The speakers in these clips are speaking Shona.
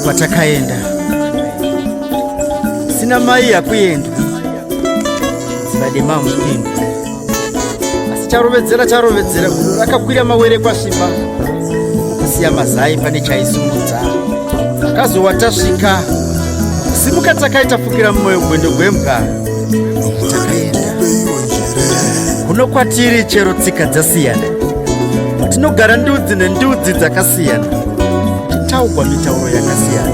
kwatakaenda sina mai yakuenda zivademamuinda asi charovedzera charovedzera gudo rakakwira mawere kwasvipa kusiya mazai pane chaisumudza akazowa tasvika simuka takaita fukira mumwoyo gwendo gwembwa takaenda kuno kwatiri chero tsika dzasiyana tinogara ndudzi nendudzi dzakasiyana titaugwa mitauro yakasiyana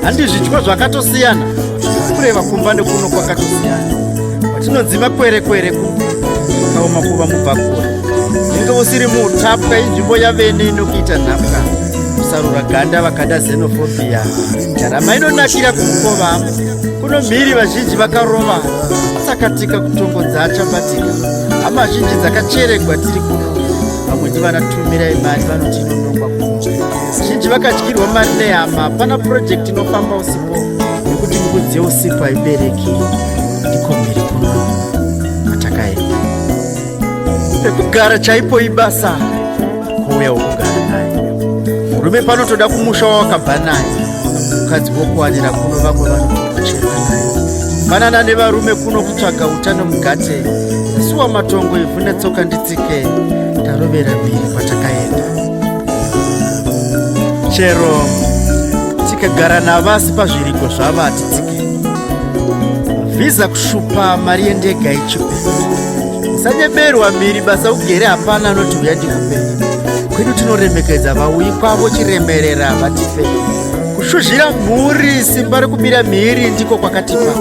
handizvidyo zvakatosiyana kureva kumba nekuno kwakatosiyana kwatinonzi makwerekwere kaoma kuva mubvakura inge usiri muutapwa inzvimbo yavene inokuita nhapwa kusarura ganda vakada zenofobia ndarama inonakira kukova kuno mhiri vazhinji vakarova asakatika kutongodza achabatika hama zhinji dzakacheregwa tiri kuno vamwe ndivanatumira imari vanoti inonongwa kuno Vazhinji vakadyirwa mari nehama. Hapana purojekiti inofamba usipo nekuti mbudzi yeusipo haibereki. Ndiko mhiri kuno matakaenda. Pekugara chaipo ibasa kuuya wokugara naye. Murume panotoda kumusha wawakabva naye. Mukadzi wokuwanira kuno vamwe vanochema naye. Fanana nevarume kuno kutsvaga utano mugate. Suwa matongo ivhu netsoka nditsike. Tarovera mhiri kwatakaenda. chero tikagara navasi pazviriko zvavati tsiki vhiza kushupa mari yendega ichipe usanyeberwa miri basa ugere hapana anoti uya ndikupe kwedu tinoremekedza vauyi kwavo chiremerera vatipe kushuzhira mhuri simba rekubira mhiri ndiko kwakatipa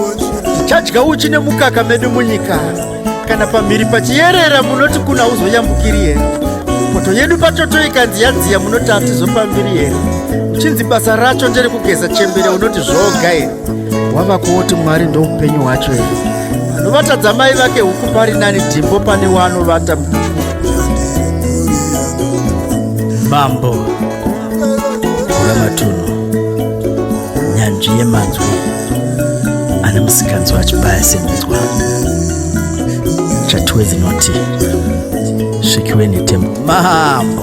tichadya uchi nemukaka medu munyika kana pamhiri pachiyerera munoti kuna uzoyambukiri here poto yedu patoto ikanzi yadziya munoti hatizopambiri here uchinzi basa racho ndere kugeza chembere unoti zvoga here wava kuoti mwari ndoupenyu hwacho here anovatadza mai vake huku pari nani dhimbo pane waanovata mambo Vhura matunhu nyanzvi yemanzwi ane musikanzwa achibaya semunzwa chatuwe dzinoti svikiwe netembo mambo